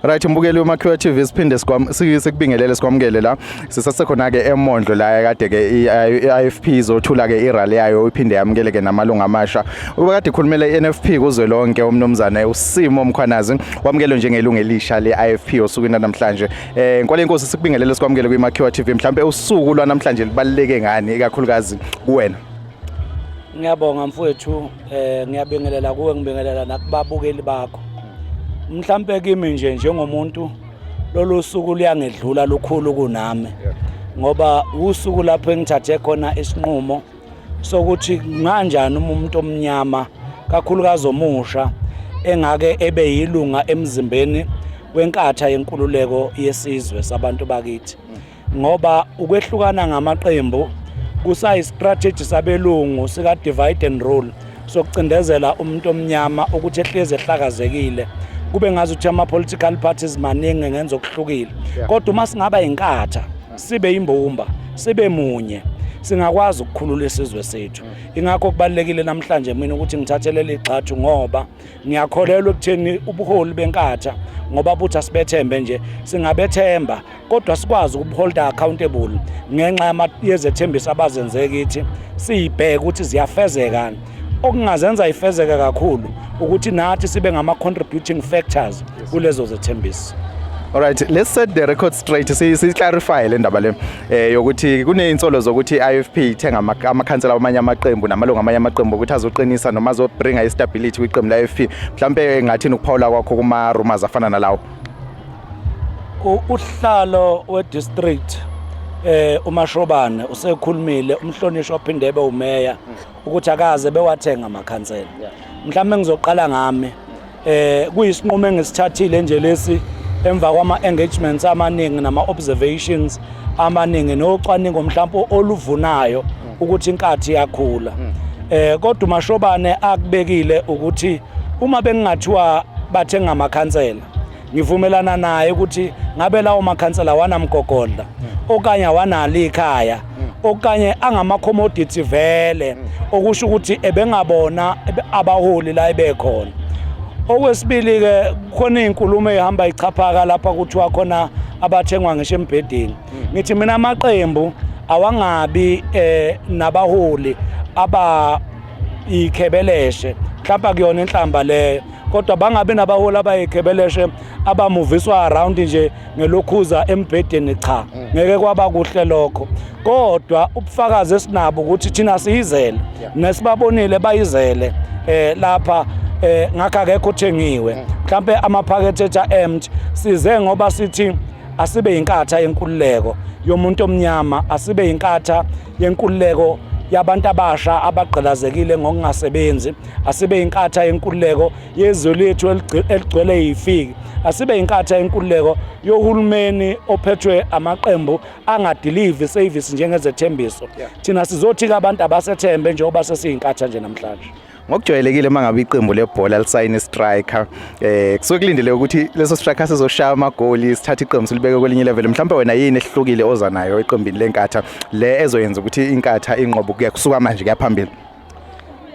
Right mbukeli weMakhiwa TV siphinde sikubingelele sikwamukele la sisasekhona ke eMondlo la kade ke iIFP izothula ke irally yayo iphinde yamukele ke namalunga amasha ubekade ikhulumela iNFP kuzwe lonke umnomzane uSimo Mkhwanazi wamukelwe njengelungu elisha leIFP osukwini namhlanje eh nkwale inkosi sikubingelele sikwamukele kwiMakhiwa TV mhlambe usuku lwanamhlanje libaluleke ngani ikakhulukazi kuwena Ngiyabonga mfowethu eh ngiyabingelela kuwe ngibingelela nakubabukeli bakho mhlampe kimi nje njengomuntu lolu suku luyangedlula lukhulu kunami ngoba usuku lapho engithathe khona isinqumo sokuthi nganjani uma umuntu omnyama kakhulukazi omusha engake ebe yilunga emzimbeni wenkatha yenkululeko yesizwe sabantu bakithi ngoba ukwehlukana ngamaqembu kusayistrategy sabelungu sika divide and rule sokucindezela umuntu omnyama ukuthi ehlezi ehlakazekile kube ngazi ukuthi ama political parties maningi ngenza okuhlukile kodwa uma singaba inkatha sibe imbumba sibe munye singakwazi ukukhulula isizwe sethu ingakho kubalekile namhlanje mina ukuthi ngithathele ligxathu ngoba ngiyakholelwa ekutheni ubuholi benkatha ngoba buthi asibethembe nje singabethemba kodwa sikwazi ukuholda accountable ngenxa yezethembiso abazenze kithi siyibheke ukuthi ziyafezeka okungazenza ifezeke kakhulu ukuthi nathi sibe ngama contributing factors kulezo zethembiso All right, let's set the record straight. Si si clarify le ndaba le eh yokuthi kuneinsolo zokuthi IFP ithenga amakhansela amanye amaqembu namalungu amanye amaqembu ukuthi azoqinisa noma azobringa istability kwiqembu la IFP. Mhlambe engathini ukuphawula kwakho kuma rumors afana nalawo. uhlalo we-district eh uMashobane usekhulumile umhlonishwa ophinde ebe umeya ukuthi akaze bewathenga amakhansela mhlawumbe ngizoqala ngami eh kuyisinqumo engisithathile nje lesi emva kwama-engagements amaningi nama-observations amaningi nocwaningo mhlawumbe oluvunayo ukuthi inkathi yakhula eh kodwa uMashobane akubekile ukuthi uma bengingathiwa bathenga amakhansela ngivumelana naye ukuthi ngabe lawo makhansela awanamgogodla okanye awanalo ikhaya okanye angama-commodity vele okusho ukuthi ebengabona abaholi la ebekhona okwesibili-ke khona iy'nkulumo ey'hamba ichaphaka lapha kuthiwa khona abathengwa ngisho embhedeni ngithi mina amaqembu awangabi eh nabaholi aba ikhebeleshe mhlawumbe kuyona inhlamba leyo kodwa bangabi nabaholi abayigebeleshe abamuviswa around nje ngelokhuza embhedeni cha mm. ngeke kwaba kuhle lokho kodwa ubufakazi esinabo ukuthi thina siyizele nesibabonile bayizele eh lapha eh ngakho akekho uthengiwe mm. mhlambe amaphakethe etha empty size ngoba sithi asibe inkatha yenkululeko yomuntu omnyama asibe inkatha yenkululeko yabantu abasha abagqilazekile ngokungasebenzi asibe yinkatha yenkululeko yezwe lethu eligcwele yifiki asibe yinkatha yenkululeko yohulumeni ophethwe amaqembu angadelivi service njengezethembiso thina sizothi-ke abantu abasethembe njengoba sesiyinkatha nje namhlanje ngokujwayelekile uma ngabe iqembu lebhola lisayina istriker eh kusuke kulindele ukuthi leso striker sizoshaya amagoli sithathe iqembu silibeke kwelinye level mhlawumbe wena yini ehlukile oza nayo eqembini lenkatha le ezoyenza ukuthi inkatha inqobo kuya kusuka manje kuyaphambili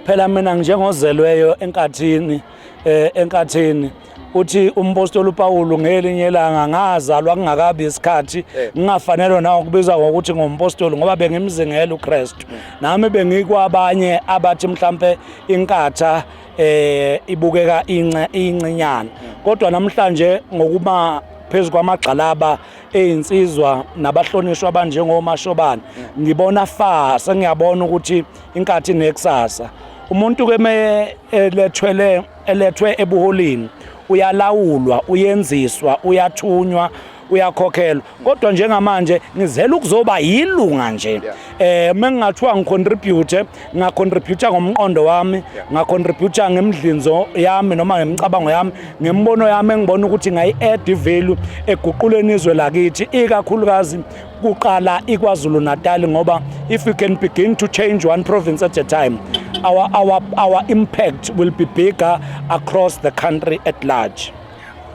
phela mina njengozelweyo enkathini eh enkathini uthi umpostoli uPawulu ngelinye ilanga ngazalwa kungakabi isikhathi eh. ngingafanelwe nawo kubizwa ngokuthi ngompostoli ngoba bengimzingela uKristu hmm. nami bengikwabanye abathi mhlambe inkatha eh ibukeka ince incinyana hmm. kodwa namhlanje ngokuba phezu kwamagxalaba ezinsizwa nabahlonishwa abanjengomashobane hmm. ngibona fa sengiyabona ukuthi inkathi nekusasa umuntu ke me elethwele eh, elethwe ebuholini uyalawulwa uyenziswa uyathunywa uyakhokhelwa kodwa njengamanje ngizela ukuzoba yilunga nje eh mengingathiwa ngicontribute ngacontribute ngomqondo wami ngacontribute ngemidlinzo yami noma ngemicabango yami ngemibono yami engibona ukuthi ngayi add value eguquleni izwe lakithi ikakhulukazi kuqala iKwaZulu-Natal ngoba if we can begin to change one province at a time our, our, our impact will be bigger across the country at large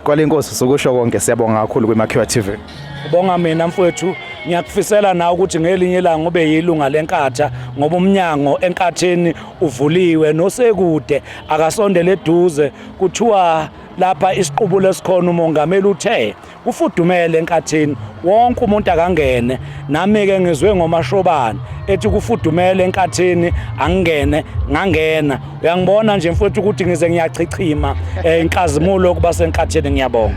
kwale nkosi sokusho konke siyabonga kakhulu kwimakhiwa TV bonga mina mfowethu ngiyakufisela nawe ukuthi ngelinye ilanga ube yilunga lenkatha ngoba umnyango enkatheni uvuliwe nosekude akasondele eduze kuthiwa lapha isiqubulo esikhona umongameli uthe Kufudumele enkathini wonke umuntu akangene nami ke ngizwe ngomashobane ethi kufudumele enkathini angingene ngangena uyangibona nje mfowethu ukuthi ngize ngiyachichima eh, inkazimulo kuba senkathini ngiyabonga